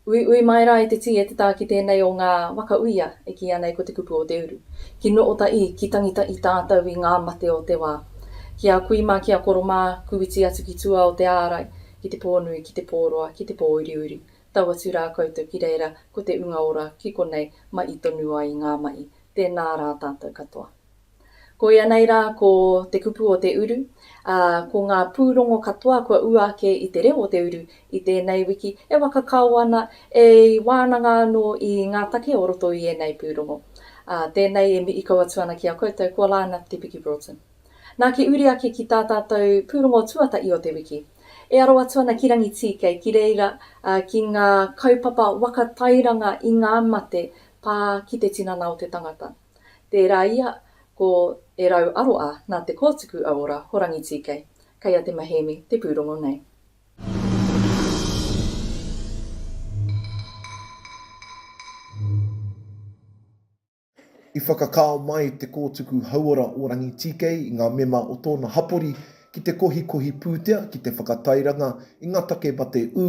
Uiui mai rā i te tī e te tā ki tēnei o ngā waka uia e kīia nei ko Te Kupu o Te Uru. Ki Nuota ii, ki Tangita i tātau i ngā mate o te wā. Ki a kui mā, ki a koro mā, kūiti atu ki tua o te ārai, ki te pō nui, ki te pō roa, ki te pō uriuri, tau atu rā koutou ki reira ko te unga ora ki konei mai i tonu ai ngā mahi. Tēnā rā tātau katoa. Koia nei rā ko te kupu o te uru, ā, ko ngā pūrongo katoa kua ua ake i te reo o te uru i tēnei wiki e waka kao ana, e wānanga anō i ngā take o roto i ēnei pūrongo. Ā, tēnei e mihi kau atu ana ki a koutou ko Lana Te Piki Broughton. Nā ki uri ake ki tā tātou pūrongo tuatahi o te wiki. E aro atu ana ki Rangitīkei, ki reira, ā, ki ngā kaupapa waka tairanga i ngā mate pā ki te tinana o te tangata. Tērā ia ko E Rau Aroa nā Te Kōtuku Auora Horangi Tīkei, kei a Te Maheemi te pūrongo nei. I whakakao mai Te Kōtuku Hauora o Rangi Tīkei i ngā mema o tōna hapori ki te kohikohi pūtea ki te whakatairanga i ngā take mate ū,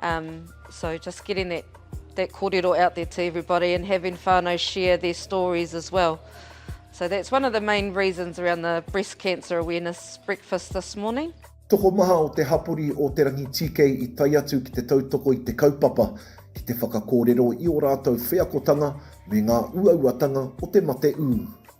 Um, so just getting that, that kōrero out there to everybody and having whānau share their stories as well. So that's one of the main reasons around the breast cancer awareness breakfast this morning. Tokomaha o te hapori o Te Rangi TK i tai atu ki te tautoko i te kaupapa, ki te whakakōrero i ō rātou wheakotanga me ngā uauatanga o te mate ū.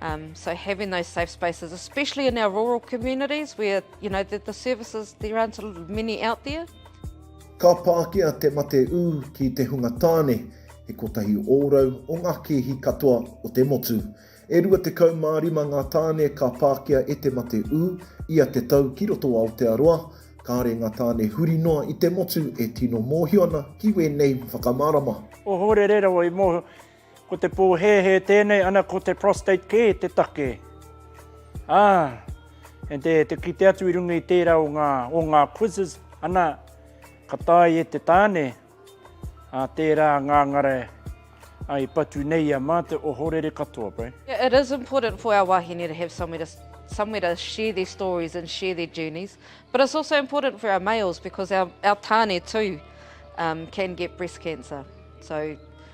Um, so having those safe spaces, especially in our rural communities where, you know, the, the services, there aren't many out there. Ka pākia te mate ū ki te hunga tāne, he kotahi ōrau o ngā kēhi katoa o te motu. E rua te kau mā rima ngā tāne ka pākia e te mate ū, ia te tau ki roto o Aotearoa, kāre ngā tāne huri noa i te motu e tino mōhio ana ki wēnei whakamārama. O Horerera o i mōhio, Ko te pōhēhē tēnei ana ko te prostate kē te take. Ā, and te, te kite atu i runga i tērā o ngā, o ngā quizzes, ana, ka tae e te tāne, ā, tērā ngāngara ai patu nei ia mā te ohorere katoa, bro. Yeah, it is important for our wahine to have somewhere to, somewhere to share their stories and share their journeys, but it's also important for our males because our, our tāne too um, can get breast cancer. So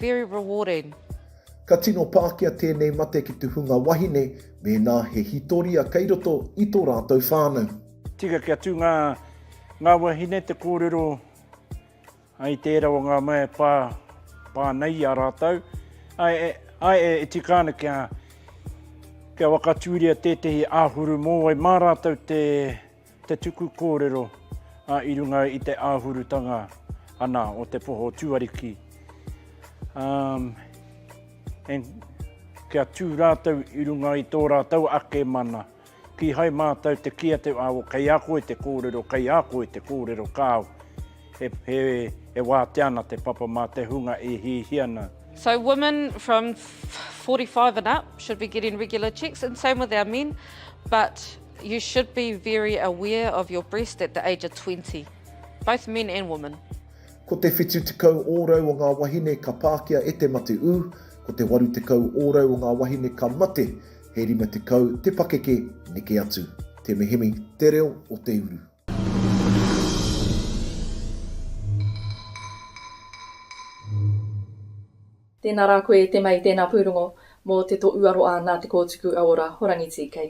Very rewarding. Ka tino pākia tēnei mate ki te hunga wahine mēnā he hitoria kei roto i tō rātou whānau. Tika kia tū ngā, ngā wahine te kōrero ai tērā o ngā mea e pā, pā nei i a rātou. Ai e, ai e, e tika ana kia, kia whakatūria tētehi āhuru mōwai mā rātou te, Te tuku kōrero, ā, i runga i te āhurutanga ana o te poho tuariki, ā, e, kia tū rātou i runga i tō rātou ake mana, kīhai mātou te kī atu, āo, kei a koe te kōrero, kei a koe te kōrero, kāo. He wātea ana te papa mā te hunga e hihi ana. So women from 45 and up should be getting regular checks and same with our men but you should be very aware of your breast at the age of 20. Both men and women. Ko te whitu tekau ōrau o ngā wahine ka pākia e te mate ū, ko te waru tekau ōrau o ngā wahine ka mate, he rima tekau te pakeke neke atu. Te Mihimi, te reo o te uru. Tēnā rā koe e te mei tēnā pūrongo mō te to uaroa nā te kōtuku auora horangi TK.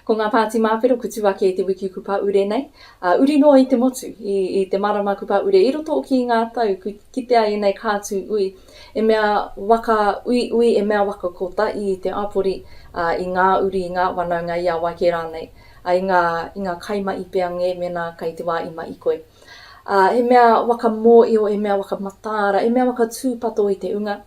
Ko ngā pāti māwhero kutu ake i te wiki kupa ure nei, ā, uri noa i te motu, i, i te marama kupa ure i roto o ki ngā tau kui kitea ēnei kātū ui e mea waka ui ui e mea waka kota i te apori, ā, i ngā uri, i ngā wanaunga i a wai kē rānei. I ngā, i ngā kai maʻi pea ngē mēnā kai te wā i maʻi koe. Ā, he mea waka mōʻio, he mea waka mataara, he mea waka tūpato i te unga,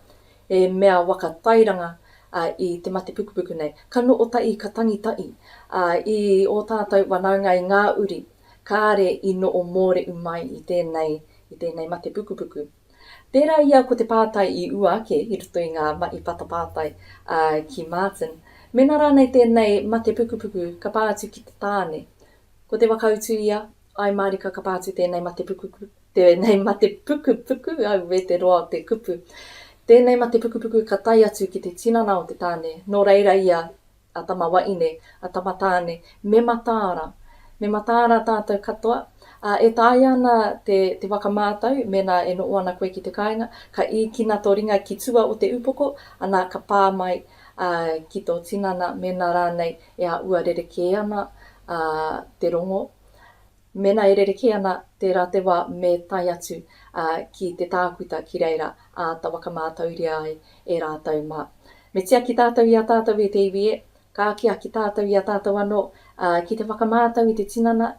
he mea waka tairanga, ā, i te mate pukupuku nei. Ka noʻo taʻi, ka tangi taʻi, ā, i ō tātou wanaunga i ngā uri, kāre i noʻo mōreʻu mai i tēnei, i tēnei mate pukupuku. Pērā i a Ko te pātai i ua ake i roto i ngā mahi patapātai a ki Martin, mēnā rānei tēnei mate pukupuku ka pā atu ki te tāne. Ko te wakautu ia, āe mārika ka pā atu tēnei mate pukupuku, tēnei mate pukupuku, auē te roa o te kupu, tēnei mate pukupuku ka tae atu ki te tinana o te tāne, nō reira ia a tama waine, a tama tāne, me mataara. Me mataara tātou katoa, ā, e taea ana te, te whakamātau, mēnā e noho ana koe ki te kāinga, ka īkina tō ringa ki tua o te upoko, anā, ka pā mai, ā, ki tō tinana, mēnā rānei e āhua rerekē ana, ā, te rongo, Mēnā e rerekē ana, tērā te wā me tae atu ki te tākuta ki reira āta whakamātauria ai e rātou mā. Me tiaki tātou i a tātou e te iwi e, ka akiaki tātou i a tātou anō ki te whakamātau i te tinana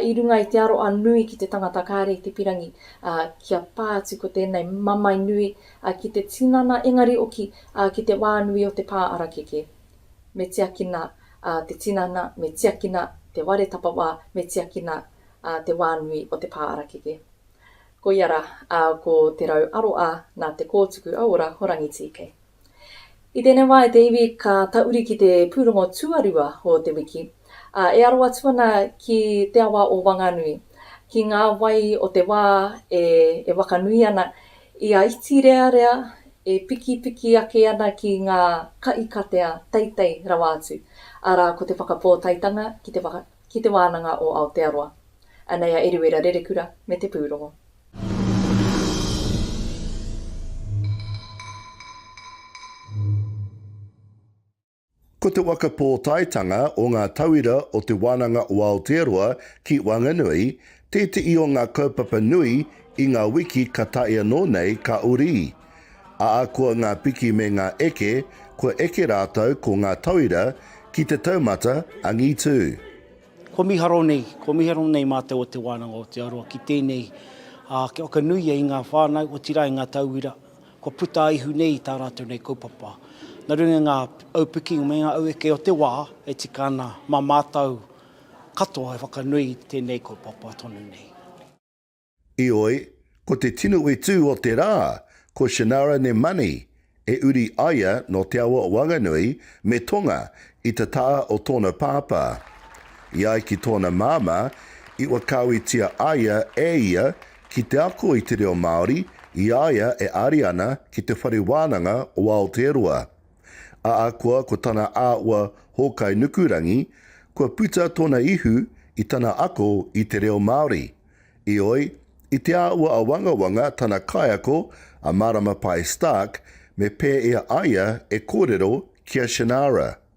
i runga i te aroa nui ki te tangata kāre i te pirangi kia pā atu ko tēnei mamae nui ki te tinana engari oki ki te wā nui o te pā arakeke me tiakina te tinana, me tiakina te ware tapawā, me tiakina te wā nui o te pā arakeke. Koia rā, ko Te Rau Aroā nā Te Kōtuku Auora o Rangitīkei. I tēnei wā e te iwi ka tauri ki te pūrongo tuarua o te wiki, ā, e aro atu ana ki te awa o Wanganui, ki ngā wai o te wā e wakanui ana I Aitirearea, e pikipiki ake ana ki ngā kaikatea teitei rawa atu, arā ko te whakapōtaetanga ki te ki Te Wānanga o Aotearoa. Anei a Eruera Rerekura me te pūrongo. Ko te waka pōtaetanga o ngā tauira o Te Wānanga o Aotearoa ki Whanganui tēteʻi o ngā kaupapa nui i ngā wiki ka tae anō nei ka uri. Ākua ngā piki me ngā eke, kua eke rātou ko ngā tauira ki te taumata angitū. Kua miharo nei, kua miharo nei mātou o Te Wānanga o Aotearoa ki tēnei, kia whakanuia i ngā whānau, otirā i ngā tauira, kua puta a Ihu nei i tā rātou nei kaupapa. Nā runga i ngā aupiki me ngā aueke o te wā e tika ana, mā mātou katoa e whakanui i tēnei kaupapa tonu nei. Heoi, ko te tino whetū o te rā, ko Shannara Nemani, e uri aia nō te awa o Wanganui me Tonga i te taha o tōna pāpā. I ai ki tōna māmā, i wakawitia aia e ia Ki te ako i te reo Māori i a ia e ari ana ki Te Whare Wānanga o Aotearoa. Ahakoa ko tana āhua hōkai nukurangi, kua puta tōna ihu i tana ako i te reo Māori. Ioi, i te āhua awangawanga tana kaiako a Mārama Pae Stark me pēia aia e kōrero ki a Shannara.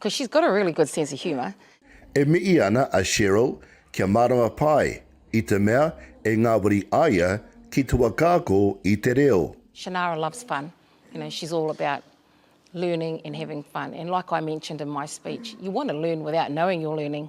Cause she's got a really good sense of humour. E mihi ana a Cheryl kia mārama pai i te mea e ngāwari aia ki te whakaako i te reo. Shannara loves fun, you know, she's all about learning and having fun and like I mentioned in my speech, you want to learn without knowing you're learning.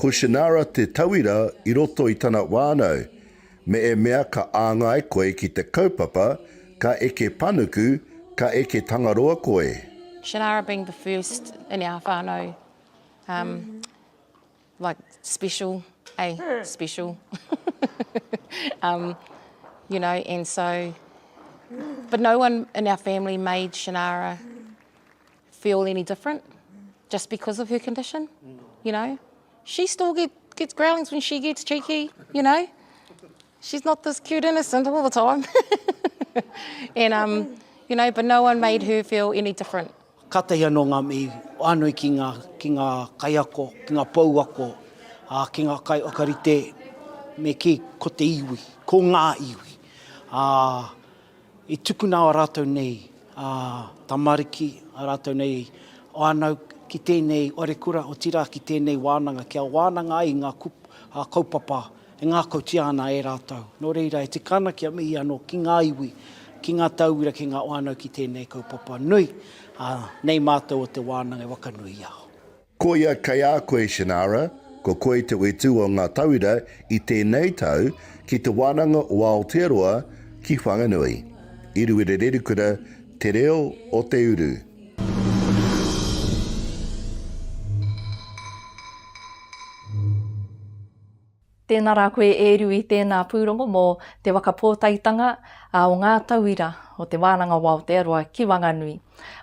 Ko Shannara te tauira i roto i tana whānau, me e mea ka āngai koe ki te kaupapa, ka eke panuku, ka eke tangaroa koe. Shannara being the first in our whanau um like special eh special um you know and so but no one in our family made Shannara feel any different just because of her condition, you know. She still get, gets growlings when she gets cheeky, you know. She's not this cute innocent all the time. and, um, you know, but no one made her feel any different. Kātahi anō ngā mihi whānui ki ngā, ki ngā kaiako, ki ngā pouako, ā, ki ngā kai whakarite me kī ko te iwi, ko ngā iwi. Ā, I tukuna ā rātou nei tamariki, ā rātou nei whānau ki tēnei wharekura, otirā ki tēnei wānanga, kia wānanga ai ngā kaupapa e ngākautia ana e rātou. Nō reira, e tika ana kia mihi anō ki ngā iwi, ki ngā tauira, ki ngā whānau ki tēnei kaupapa nui, ā, nei mātou o Te Wānanga e whakanuia. Koia kei a koe Shannara, ko koe te whetū o ngā tauira i tēnei tau ki te wānanga o Aotearoa ki Whanganui. I Ruere Rerikura te reo o te uru. Tēnā rā koe e ru i tēnā pūrongo mō Te Waka Pōtaitanga o ngā Tauira o Te Wānanga o Aotearoa ki Wanganui.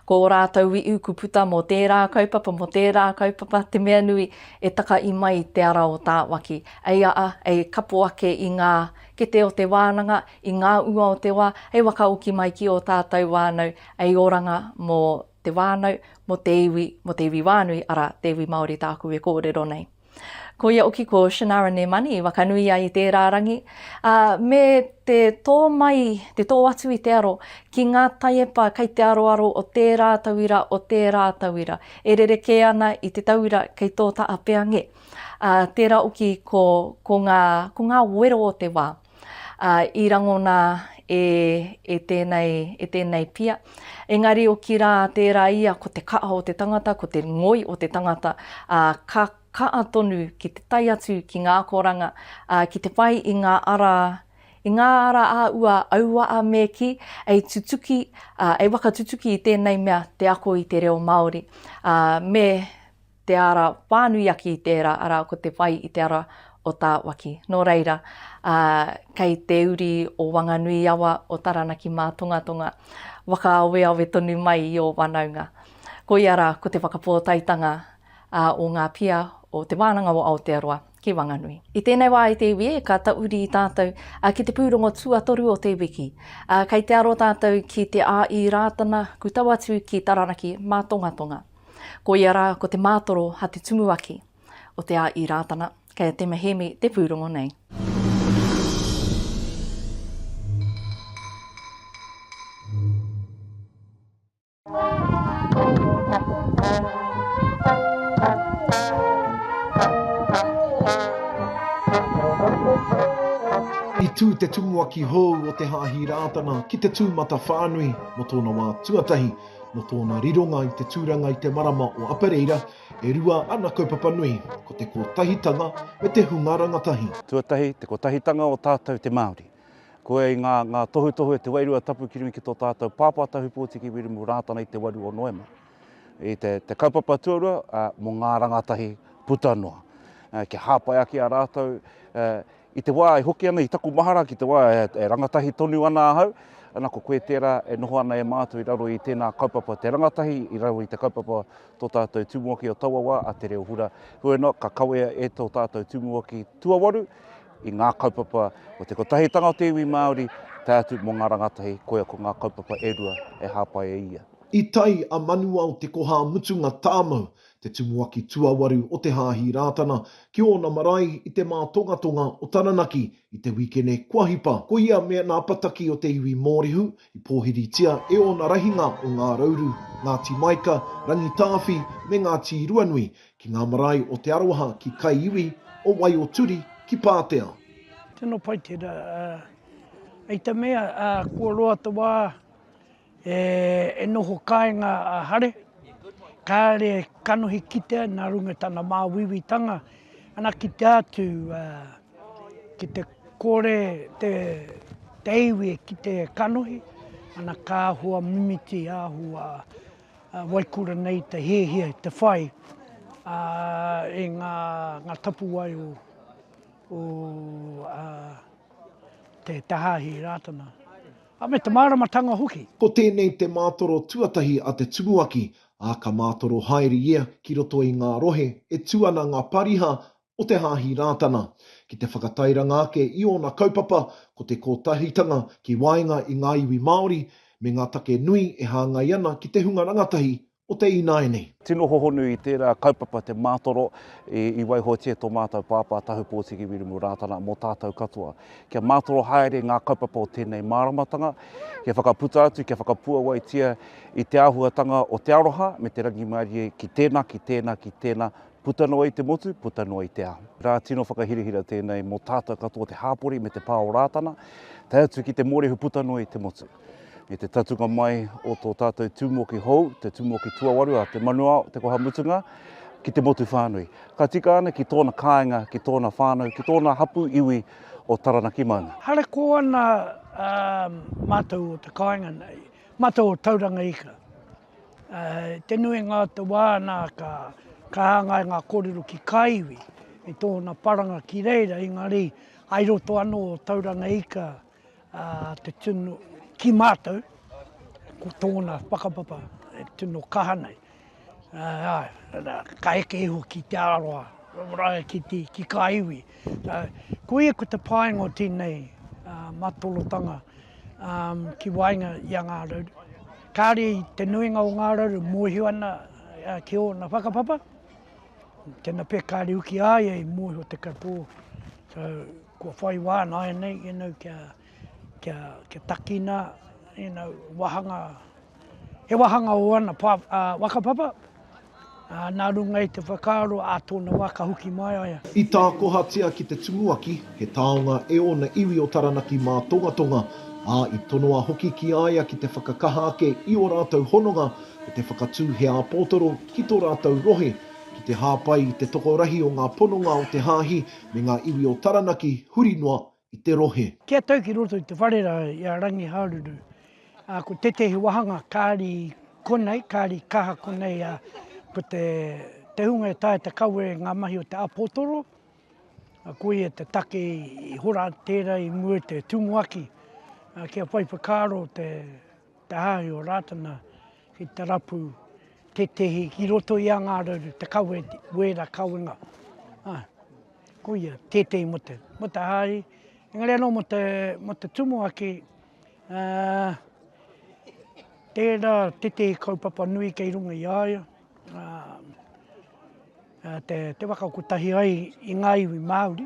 Ko ō rātou wi'u ku puta mō tērā kaupapa, mō tērā kaupapa, te mea nui e taka i mai te ara o Tāwaki. Ei aa, ei kapo ake i ngā kete o te wānanga, i ngā ua o te wā, hei wakaoki mai ki ō tātou wānau, ei oranga mō te wānau, mō te iwi, mō te iwi wānui, arā, te iwi Māori tāku e kōrero nei. Ko ia oki ko Shenara Nemani i wakanui ai i tērā rangi, ā, me te tō mai, te tō atu i te aro ki ngā taiepa kei te aroaro o tērā tauira, o tērā tauira, e rerekē ana i te tauira kei tō Taapea ngē. Ā, tērā oki ko, ko ngā, ko ngā wero o te wā. ā, i rangona e, e tēnei, e tēnei pia. Engari otirā tērā ia ko te kaha o te tangata, ko te ngoi o te tangata, ā, ka kaha tonu ki te tae atu ki ngā akoranga, ā, ki te whai i ngā ara, i ngā ara a ua auaha me kī, e tutuki, ā, e whakatutuki i tēnei mea te ako i te reo Māori, ā, me, te ara whānuiaki i tērā, arā, ko te whai i te ara o Tāwaki. Nō reira, ā, kei te uri o Wanganui-i-awa, o Taranaki Mātongatonga, whakaaweawe tonu mai i ō whanaunga. Koia rā, ko te whakapōtaetanga ā, o ngā pia o Te Wānanga o Aotearoa ki Wanganui. I tēnei wā e te iwi e, ka tauri tātou ā, ki te pūrongo tuatoru o te wiki. Ā, kei te aro tātou ki Te Āī Rātana, ku tau atu ki Taranaki Mātongatonga. Ko ia rā ko te mātoro ha te tumuaki o te a i Rātana, kei a Tema Hēmi te pūrongo nei. I tū te tumuaki hou o Te Hāhi Rātana ki te tūmatawhānui mō tōna wā tuatahi, Nō tōna rironga i te tūranga i te marama o Apereira, e rua ana kaupapa nui, ko te kotahitanga me te hunga rangatahi. Tuatahi, te kotahitanga o tātou te Māori. Koia i ngā, ngā tohutohu e te Wairua Tapu ki runga ki tō tātou Pāpā Tahu Pōtiki Wirimu Rātana i te 8 o Noema. I te, te kaupapa tuarua, uh, mō ngā rangatahi puta noa. Uh, kia hāpai ake a rātou uh, I te wā e hoki ana i taku mahara ki te wā e rangatahi tonu ana ahau, ana ko koe tērā e noho ana e mātou i raro i tēnā kaupapa te rangatahi i raro i te kaupapa tō tātou Tumuaki o taua wā a Te Reo Hura. Heoi anō, ka kawea e tō tātou Tumuaki tuawaru i ngā kaupapa o te kotahitanga o te iwi Māori tae atu mō ngā rangatahi, koia ko ngā kaupapa e rua e hāpai e ia. I tai a Manuao Te Koha-a-Mutunga Tāmau te tumuaki tuawaru o te Hāhi Rātana ki ōna marae i te mātongatonga o Taranaki i te wikene kua hipa. Koia me ana apataki o te iwi Mōrehu i pōhiritia e ōna rahinga o Ngā Rauru, Ngāti Maika, Rangitāwhi me Ngāti Ruanui ki ngā marae o Te Aroha ki Kaiiwi, o Waioturi ki Pātea. Tino pai tera, i te mea kua roa te wa. E noho kāinga a Hare, kāre kanohi kitea nā runga i tana māuiuitanga, ana ki te atu ki te kore te iwi e kite e kanohi, ana ka āhua mimiti, āhua waikura nei te hiahia i te whai i ngā tapuwae o te hāhi Rātana. Ā, me te māramatanga hoki. Ko tēnei te mātoro tuatahi a te tumuaki, ā, ka mātoro haere ia ki roto i ngā rohe e tū ana ngā pariha o te Hāhi Rātana, ki te whakatairanga ake i ōna kaupapa, ko te kotahitanga ki waenga i ngā iwi Māori, me ngā take nui e hāngai ana ki te hunga rangatahi o te ināianei. Tino hohonu i tērā kaupapa te mātoro i waihotia tō mātou Pāpā Tahupōtiki Wiremu Rātana mō tātou katoa. Kia mātoro haere ngā kaupapa o tēnei māramatanga, kia whakaputa atu, kia whakapuawaitia i te āhuatanga o te aroha me te rangimārie ki tēnā, ki tēnā, ki tēnā, puta noa i te motu, puta noa i te ao. Rā tino whakahirahira tēnei mō tātou katoa te hāpori me te pā o Rātana, tae atu ki te mōrehu puta noa i te motu. I te tatunga mai o tō tātou tūmoki hou, te tūmoki tuawaru a Te Manuao, Te Koha Mutunga, ki te motu whānui. Ka tika ana ki tōna kāinga, ki tōna whānau, ki tōna hapū iwi o Taranaki Maunga. Harakō ana mātou o te kāinga nei, mātou o Tauranga Ika. Te nuinga o te wā nā ka hāngai ngā kōrero ki kā iwi i tōna paranga ki reira, engari hai roto anō o Tauranga Ika. ā, te tino, ki mātou, ko tōna whakapapa e tino kaha nei. Ā, ā, ka eke iho ki te aroha, rae ki, te, ki kā iwi. Ā, koia ko te painga o tēnei ā, matolotanga ā, ki waenga i a Ngā Rauru. Kāre i te nuinga o Ngā Rauru mōhio ana ā, ki ōna whakapapa, tēnā pea kāre uki āia i mōhio te katoa. So, Kua whai wā nāianei you know, kia, kia, kia takina you know, wāhanga, he wāhanga o ana pā, uh, whakapapa, uh, nā runga i te whakaaro a tōna wā ka hoki mai a ia. I tākohatia ki te Tumuaki, he taonga e ōna iwi o Taranaki mā Tongatonga, ā, i tonoa hoki ki a ia ki te whakakaha ake i ō rātou hononga me te whakatū he āpōtoro ki tō rātou rohe, ki te hāpai i te tokorahi o ngā pononga o te Hāhi me ngā iwi o Taranaki huri noa i te rohe. Ki a tau ki roto i te whare rā i a Rangihāruru, ā, ko tētehi wāhanga kāri konei, kāri kaha konei, ā, ko te, te hunga e taea te kawe ngā mahi o te āpotoro, ā, ko ia te take i hora tērā i mua i te tumuaki, ā, kia whai whakaaro te. te hāhi o Rātana ki te rapu tētehi ki roto i a Ngārauru, te kawe, wēra kawenga. Ā, koia, tētehi mō te, mō te hāhi, engari anō mō te, mō te tumuaki, ā, tērā tētehi kaupapa nui kei runga i a ia, ā, te, te whakakotahi ai i ngā iwi Māori,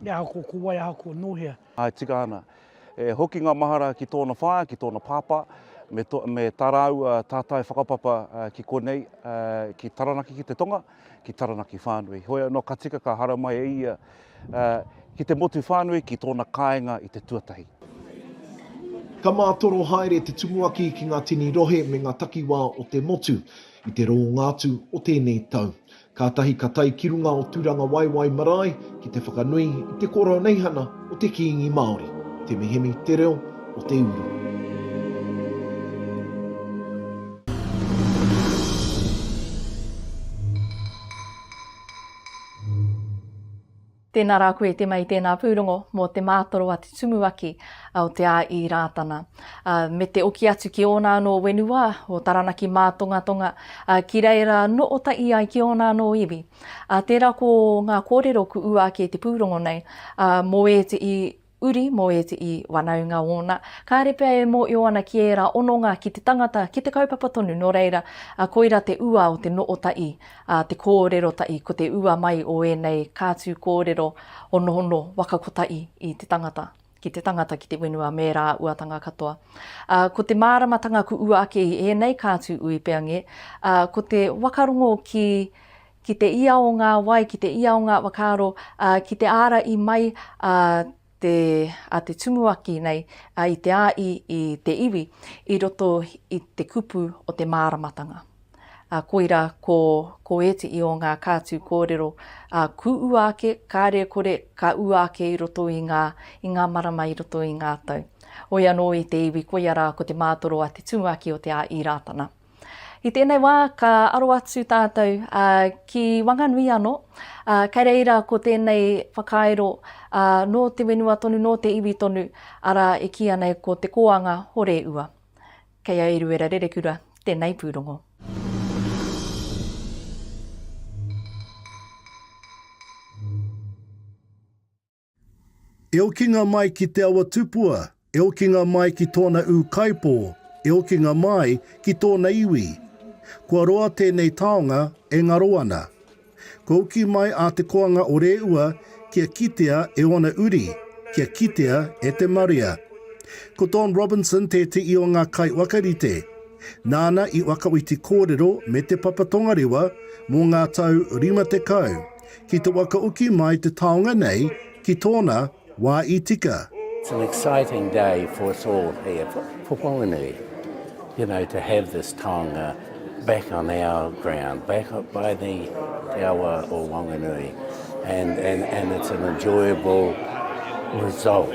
e aha ko, ko wai, aha ko nōhea. Āe, tika ana. E hoki ngā mahara ki tōna whaea, ki tōna pāpā, me, to, me tā rāua tātai whakapapa uh, ki konei, uh, ki Taranaki ki te Tonga, ki Taranaki whānui. Hoi anō ka tika ka hara mai e ia uh, ki te motu whānui, ki tōna kāinga i te tuatahi. Ka mātoro haere te tumuaki ki ngā tini rohe me ngā takiwā o te motu i te rōngātu o tēnei tau. Kātahi ka tae ki runga o Tūrangawaewae marae ki te whakanui i te koroneihana o te Kīngi Māori, te mihini, te reo, o te uru. Tēnā rā koe te mei tēnā pūrongo mō te mātoro a te Tumuaki o te A-i Rātana me te oki atu ki ōna anō wenuwā o Taranaki Mātongatonga ki reira no ota'i ai ki ōna anō iwi. Tērā ko ngā kōrero ku ua ake te pūrongo nei mō ēte'i uri mō ēteʻi wanaunga ōna, kāre pea e mōʻio ana ki ērā ononga ki te tangata, ki te kaupapa tonu nō reira, koira te ua o te nootaʻi, te kōrero taʻi, ko te ua mai o ēnei kātū kōrero honohono waka kotaʻi i te tangata, ki te tangata, ki te whenua me ērā uatanga katoa. Ko te māramatanga kuʻu ake i ēnei kātū uipeange, ko te wakarongo ki ki te ia o ngā wai, ki te ia o ngā whakaaro, ā, ki te āra i mai a te, a te Tumuaki nei, ā, i te āi i te iwi, i roto i te kupu o te māramatanga. Ā, koira, ko, ko ētehi o ngā kātū kōrero, ā, kū ua ake, kāre e kore, ka ua ake i roto i ngā, i ngā marama i roto i ngā tau. Hoi anō i te iwi, koia rā ko te mātoro a te Tumuaki o Te Āi Rātana. I tēnei wā ka aro atu tātou ki Wanganui anō, kei reira ko tēnei whakairo nō te whenua tonu, nō te iwi tonu, arā e kīia nei ko Te Kōanga Horeua. Kei a Eruera Rerekura tēnei pūrongo. E okinga mai ki Te Awa Tupua, e okinga mai ki tōna ūkaipō, e okinga mai ki tōna iwi. Kua roa tēnei taonga e ngaro ana. Kua uki mai a Te Koanga o Rēua kia kitea e ōna uri, kia kitea e te marea. Ko Don Robinson tēteʻi o ngā kaiwakarite. Nāna i wakaoti kōrero me Te Papa Tongarewa mō ngā tau rima tekau. ki te whakauki mai te taonga nei ki tōna wā i tika. It's an exciting day for us all here, for Whanganui, you know, to have this taonga back on our ground, back up by the te awa o Whanganui, and it's an enjoyable result.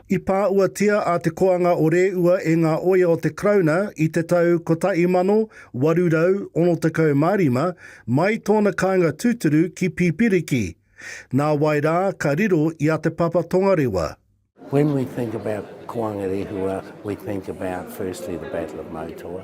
I pāuatia a Te Koanga o Rēua e ngā oia o te Karauna i te tau 1865, mai tōna kāinga tūturu ki Pipiriki, nā wai rā ka riro i a Te Papa Tongarewa. When we think about Koanga Rehua, we think about firstly the Battle of Moutoa.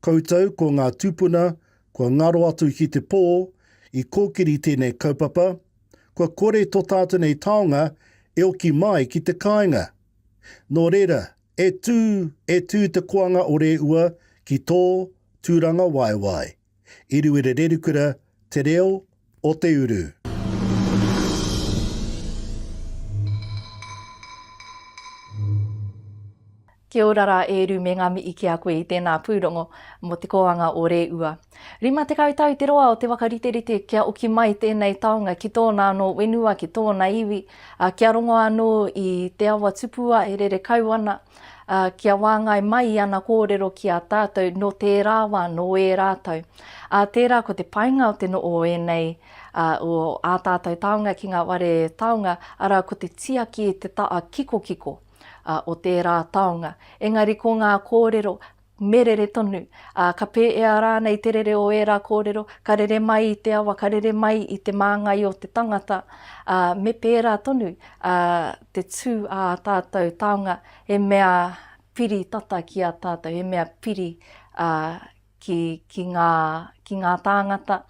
Koutou ko ngā tūpuna kua ngaro atu ki te pō i kōkiri tēnei kaupapa, kua kore tō tātou nei taonga e oki mai ki te kāinga. Nō reira, e tū, e tū te koanga o Rēua ki tō tūrangawaewae. Iriwere Rerikura, Te Reo, o te uru. Kia ora rā e Ru me ngā mihi ki a koe i tēnā pūrongo mō te kōanga o Rēua. Rima tekau tau te roa o te whakariterite kia oki mai tēnei taonga ki tōna anō wenua, ki tōna iwi, ā, kia rongo anō i te awa tupua e rere kau ana, ā, kia wāngai mai i ana kōrero ki a tātou nō tērā wā, nō ērā tau. Ā, tērā ko te painga o te noho o ēnei, ā, o ā tātou taonga ki ngā whare taonga, arā, ko te tiaki i te taha kikokiko, ā, o tērā taonga. Engari ko ngā kōrero, me rere tonu, ā, ka pēea rānei te rere o ērā kōrero, ka rere mai i te awa, ka rere mai i te māngai o te tangata, ā, me pērā tonu te tū ā tātou taonga, he mea piri tata ki a tātou, he mea piri ki ngā tāngata.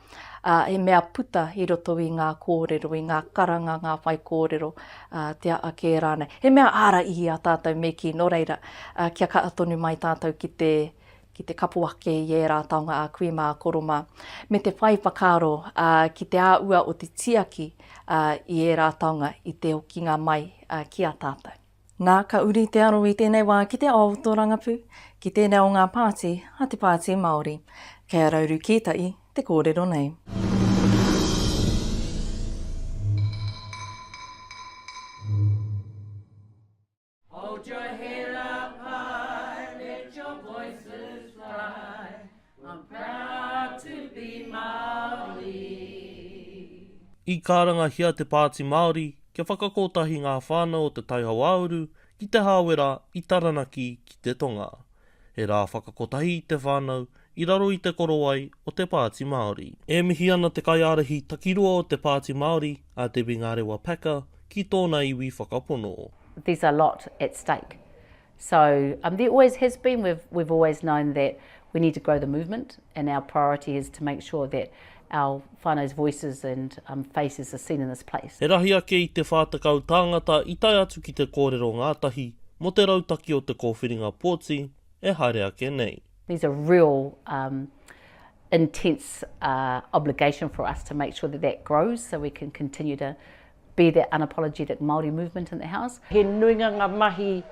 ā, he mea puta i roto i ngā kōrero, i ngā karanga, ngā whaikōrero, ā, te aha kē rānei. He mea āra i a tātou me kī, nō reira, ā, kia kaha tonu mai tātou ki te, ki te kapo ake i ērā taonga a kui mā, a koro mā, me te whai whakaaro, ā, ki te āhua o te tiaki, ā, i ērā taonga i te okinga mai, ā, ki a tātou. Nā, ka uri te aro i tēnei wā ki te ao o tō rangapū, ki tēnā o ngā pāti a te Pāti Māori. Kei a Rauru Kītai te kōrero nei. I'm proud to be Māori. I karangahia te Pāti Māori kia whakakotahi ngā whānau o Te Tai Hauāuru ki Te Hāwera i Taranaki ki te tonga. He rā whakakotahi te whānau i raro i te korowai o te Pāti Māori. E mihi ana te kaiārahi takiroa o te Pāti Māori, a Debbie Ngarewa Packer, ki tōna iwi whakapono. There's a lot at stake. So um, there always has been, we've, we've always known that we need to grow the movement and our priority is to make sure that our whānau's voices and um, faces are seen in this place. He rahi ake i te whā tekau tāngata i tae atu ki te kōrero ngātahi mō te rautaki o te kōwhiringa pōti e haere ake nei. There's a real um, intense uh, obligation for us to make sure that that grows so we can continue to be that unapologetic Māori movement in the House. He nuinga ngā mahi,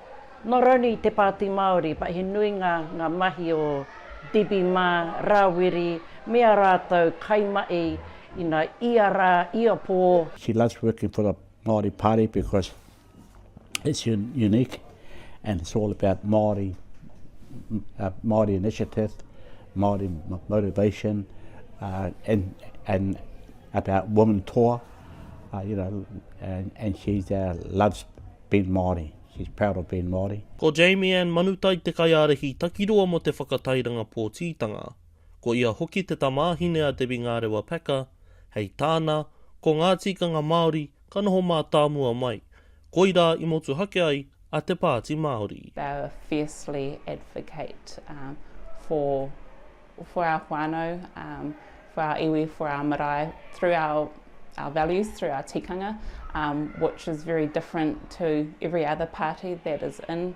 not only i te Pāti Māori, but he nui ngā ngā mahi o Debbie mā, Rāwiri, me ā rātou kaimahi ina ia rā, ia pō. She loves working for the Māori Party because it's unique and it's all about Māori, Māori initiative, Māori motivation and about women toa. uh, you know, and, and she uh, loves being Māori. She's proud of being Māori. Ko Jamie Anne Manutai te kaiārahi takiroa mō te whakatairanga pōtitanga. Ko ia hoki te tamāhine a Debbie Ngārewa Packer, hei tāna, ko ngā tikanga Māori ka noho mātāmua mai, Koirā i motuhake ai a Te Pāti Māori. They are fiercely advocate for for our whānau, for our iwi, for our marae through our our values, through our tikanga, which is very different to every other party that is in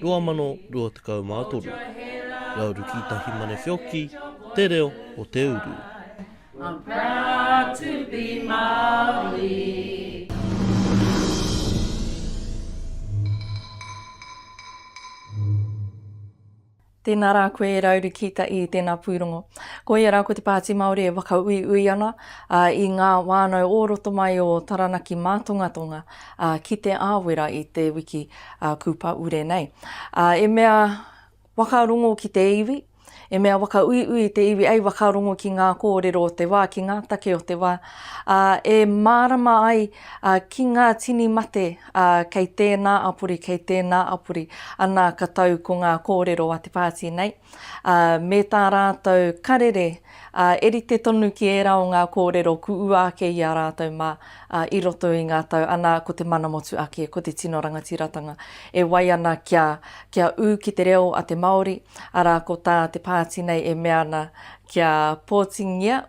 2023 Rauriki Tahi Mane Wheoki Te Reo o Te Uru. Tēnā rā koe e Rauriki Taʻi, tēnā pūrongo. Ko ia rā ko te Pāti Māori e whakauiui ana i ngā whānau o roto mai o Taranaki Mātongatonga ki Te Āwera i te wiki a Kupaure nei. A, e mea whakarongo ki te iwi, e mea whakauiui te iwi, ei whakarongo ki ngā kōrero o te wā, ki ngā take o te wā, a, e mārama ai a, ki ngā tini mate a, kei tēnā apori, kei tēnā apori, anā ka tau ko ngā kōrero a te pāti nei. ā, me tā rātou karere, ā, e rite tonu ki ērā o ngā kōrero kuua ake i a rātou mā, ā, i roto i ngā tau, anā, ko te mana motu ake, ko te tino rangatiratanga e wai ana kia, kia ū ki te reo a te Māori, arā, ko tā te pāti nei e mea ana kia pōtingia,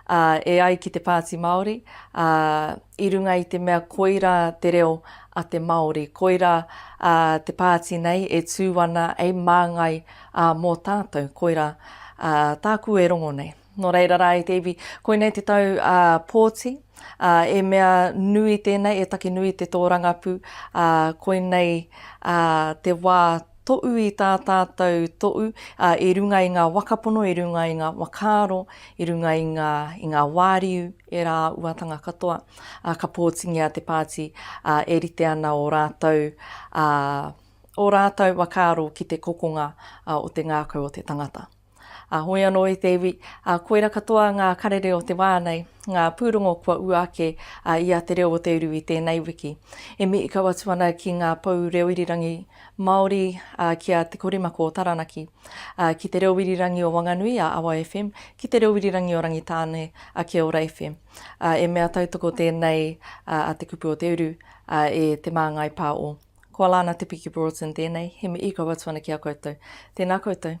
ā, e ai ki te Pāti Māori, ā, i runga i te mea koirā te reo a te Māori, koirā, ā, te pāti nei e tū ana hei māngai, ā, mō tātou, koirā, ā, tāku e rongo nei. Nō reira rā e te iwi, koinei te tau, ā, pōti, ā, e mea nui tēnei, e taki nui te tōrangapū, ā, koinei, ā, te wā, Toʻu i tā tātou Toʻu, ā, i runga i ngā waka pono, i runga i ngā whakaaro, i runga i ngā, i ngā wāriu, ērā āuatanga katoa, ā, ka pōtingia te pāti, ā, e rite ana ō rātou, ā, ō rātou whakaaro ki te kokonga, ā, o te ngākau o te tangata. Ā, hoi anō i te iwi, ā, koira katoa ngā karere o te wā nei, ngā pūrongo kua ua ake, ā, i a Te Reo o Te Uru i tēnei wiki. E mihi kau atu ana ki ngā pou reo irirangi Māori, ā, ki a Te Korimako o Taranaki, ā, ki Te Reo Irirangi o Wanganui, ā, Awa FM, ki Te Reo Irirangi o Rangitāne, ā, Kia Ora FM. Ā, e mea tautoko tēnei, ā, a Te Kupu o Te Uru, ā, e Te Māngai Pā o. Ko Alana Te Piki Broughton tēnei, he mihi kau atu ana ki a koutou. Tēnā koutou.